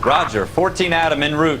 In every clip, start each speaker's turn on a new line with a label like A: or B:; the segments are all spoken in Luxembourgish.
A: Roger, fourteen Adam
B: en route.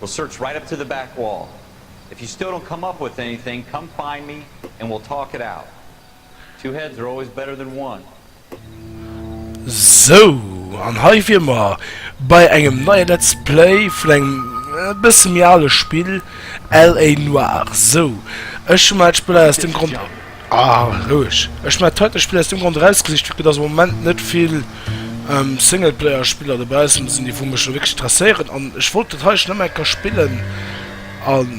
B: We'll search right up to the back wall. If you still don't come up with anything, come find me and we'll talk it out. Two heads are always better than one.
C: Sou, an hei wier mer bei engem neie Let's Play vun engem e bësse méi ale Spill, LA Noire. Sou, ech hu mer dat Spëll aus dem Grond. Ah roueg, ech mein d'heiten Spill aus dem Grond erausgesicht vu que dass am Moment net vill Singleplayer Spiller dobaussen sinn déi wou mech lo wierklech interesséieren an ech wollt dat heiten nëmme eng Kéier spillen an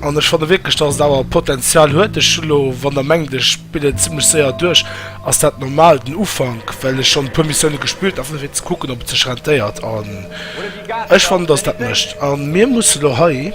C: an ech fanne wierklech dass et awer Potenzial huet. Ech hu lo, wann der mengt ech spill et zimlech séier duerch, ass dat normal den Ufank well ech schonn e puer Missioune gespillt einfach fir ze kucken ob et sech rentéiert an ech fannen dass dat mécht a mir musse lo hei.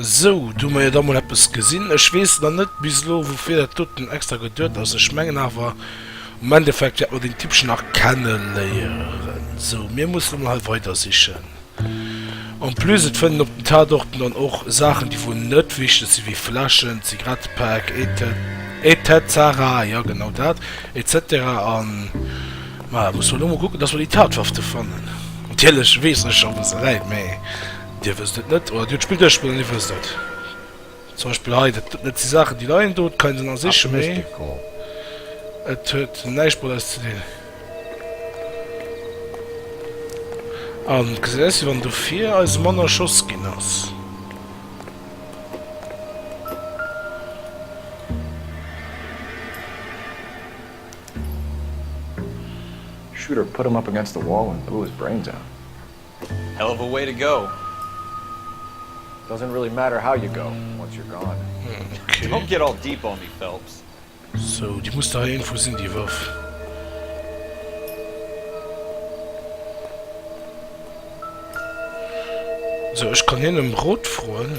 C: Sou, do hu mer jo da mol eppes gesinn. Ech weess nach net bis elo, woufir dat doten extra geduet ass. Ech mengen awer, am Endeffekt wäert mer deen Tippchen nach kenneléieren. Sou, mir mussen emol hei weidersichen. En plus, et fënnen op den Tatorten dann och Saachen, déi wuel net wichteg sinn, wéi Fläschen, Zigarettepäck, et cet-cetera, jo, genau dat, et cetera an. Ma muss mer elo mol kucken, dass mer déi Tatwaffe fannen. Natierlech weessen ech scho wou se läit, mee Dir wësst et net oder Dir hutt d'Spill duerchgespillt an Dir wësst et. Zum Beispill hei, dat net déi Saachen déi leien do, et kann een se nach sichen, mee et huet näischt mat eis ze dinn. An et gesäit aus wéi wann dofir eis mann erschoss ginn ass.
D: Shooter put him up against the wall and blew his brains out. Hell of
B: a way to go. Doesn't
D: really matter how you go once you're gone. Don't get
C: all deep
B: on me Phelps. So déi
C: muss der iergendwou sinn déi Waff. So ech kann hien em Rot froen.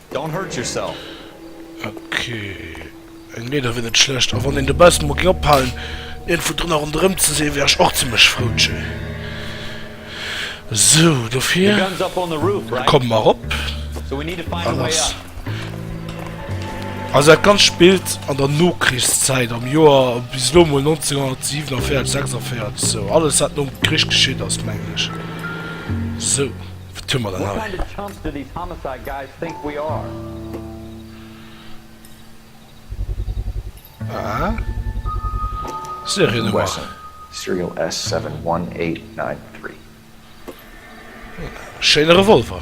B: Don't hurt yourself.
C: Ok, eng Leeder wier net schlecht, a wann een de Best mol géing ophalen iergendwou drënner ronderëm ze si wär ech och zimlech frou tjé. Sou, dofir
B: komme mer erop. An ass
C: also dat Ganzt spillt an der Nokrichszäit, am Joer bis elo mol 1947, 46, sou alles wat nom Krich geschitt ass, mengen ech. Sou.
D: Schéine
C: Revolver.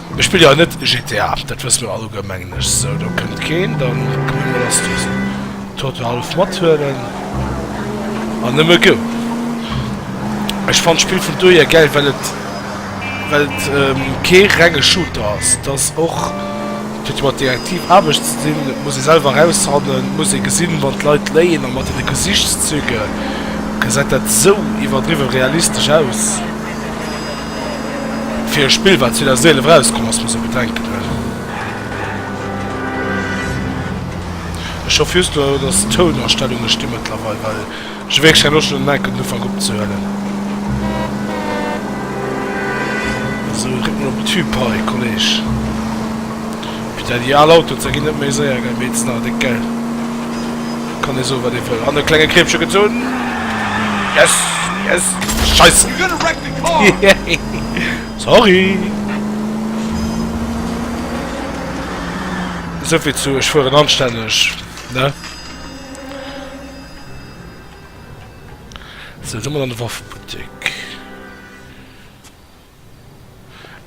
C: Ech spille jo net GTA, dat wësse mir alleguer mengen ech. Sou, do kënnt keen. Da komme mir lass dësen Toto hallef mathuelen an nëmme go. Ech fannen d'Spill vun dohier gäil, well et well et kee renge Shooter ass. Et ass och, et huet jo mat Detektiv Aarbecht ze dinn, et muss ee selwer erausfannen, et muss ee gesinn, wann d'Leit léien. A mat deene Gesichtszüge gesäit dat sou iwwerdriwwe realistesch aus. fir e Spill wat 2011 erauskomm ass, muss e bedenken hunn. Ech hoffen just elo dass d'Tounanstellunge sti mëttlerweil, well ech hu wierklech keng Loscht elo den enken den Ufank opzehuelen. Esou dréck mol op den Tube hei Kolleg. Peter déi al Autoen ze ginn net méi séier gell, mee et sinn awer déck gell. Et kann ee soen wat ee wëll. An e klenge Kriebche gezunn. Yes yes! Scheisse! Sorry! Souvill zu, ech fueren anstänneg, ne? So, du mol an de Waffebuttek.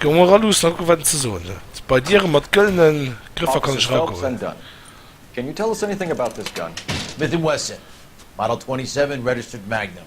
C: Gong mer all luussen, hatt wat ze soen. Bei Dieren mat gëllenen Grëffer kann ech ragoen. Can
D: you tell us anything about this gun? Smith and Wesson,
E: Model 27, registered Magnum.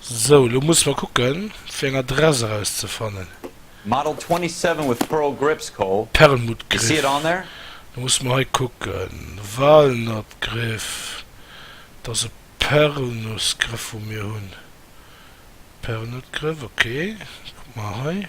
C: Sou, elo musse mer kucken fir eng Adress eraus ze fannen. Model 27
B: with pearl grips Col. Perlmutt Griff, da musse mer hei
C: kucken. Walnut Griff, et ass e Perlnuss Griff wou mir hunn. Perlnutt Griff, ok, kuck mer hei.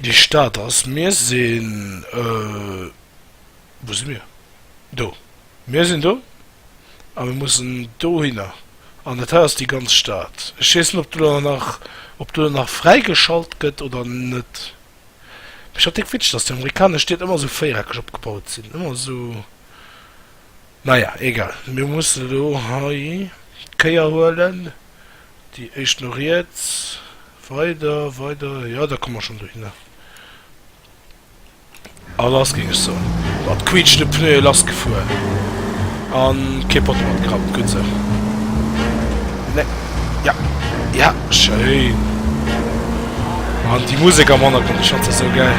C: Déi Stad ass, mir sinn, wou si mir? Do. Mir sinn do a mir mussen dohinner an dat hei ass déi ganz Stad. Ech weess net, ob do dann nach, ob do dann nach fräigeschalt gëtt oder net. Mee schon déck Witsch, dass déi amerikanesch Stied ëmmer esou véiereckeg opgebaut sinn, ëmmer esou. Naja, egal, mir mussen elo hei d'Kéier huelen. Déi éischt no riets. Weider, weider. Jo, da komme mer schonn dohinner. A lass, géing ech soen. Mat quiitschende Pneue lassgefuer a kee Potto matgerappt. Gutt esou. Nee. Ja, ja, schéin. An déi Musek am Hannergrond, ech fannt se esou gäil.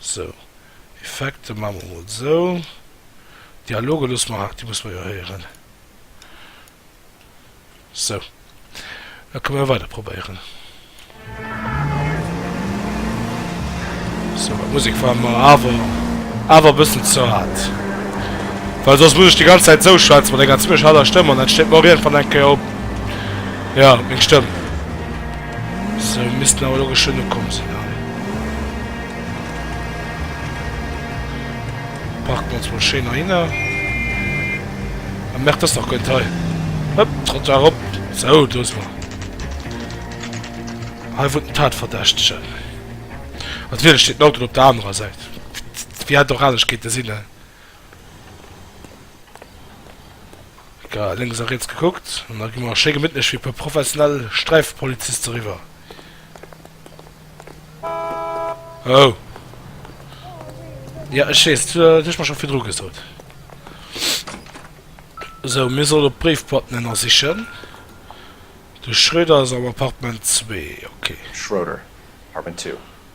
C: Sou, Effekte maache mer mol sou. Dialoge loosse mer, déi musse mer jo héieren. Sou, da kënne mer weider probéieren. Sou, d'Musek war mer awer awer e bëssen ze haart, well soss muss ech déi ganz Zäit sou schwätzen, mat enger zimmlech haarder Stëmm, an dat steet mer och iergendwann eng Kéier op. Jo, meng Stëmm. Sou, missten awer lo geschwënn ukomm sinn hei. Parken ons mol schéin heihinner. Ah merde, ass nach goent hei. Hop, Trottoir rop. Sou, do si mer. Hei wunnt den Tatverdächtegen. Natierlech steet den Auto op der anerer Säit. Wéi hätt et och anescht kéinte sinn, he? Egal, lénks a riets gekuckt an da gi mer schéi gemittlech wéi e puer professionell Sträifpoliziste riwwer. Oh! Jo, ech weess, du hues mer scho virdru gesot. Sou, mir sollen op d'Bréifboîten ënnersichen. De Schroeder ass am Appartement zwee, ok. Schroeder, Apartment
D: two.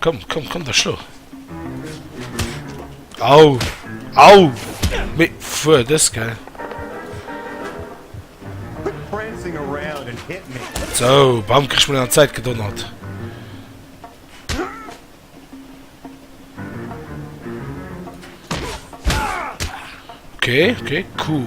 C: Komm, komm, komm, da schlo. Au! Au! Mee fuer dës gell.
F: So, bam, krech
C: mir an Zäit gedonnert. Okay, okay, cool.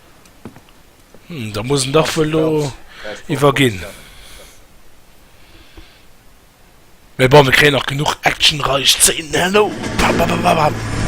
C: Hm, da muss en dach wuel lo iwwerginn. Mee bon, mir kréien nach genug actionreich Szenen herno. Bam, bam, bam, bam, bam.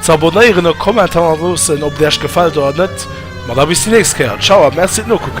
C: Z'abonnéieren a Commenter ënnerloossen, ob et Äech gefält oder net. Ma da bis déi nächst Kéier. Ciao a merci d'Nokucken!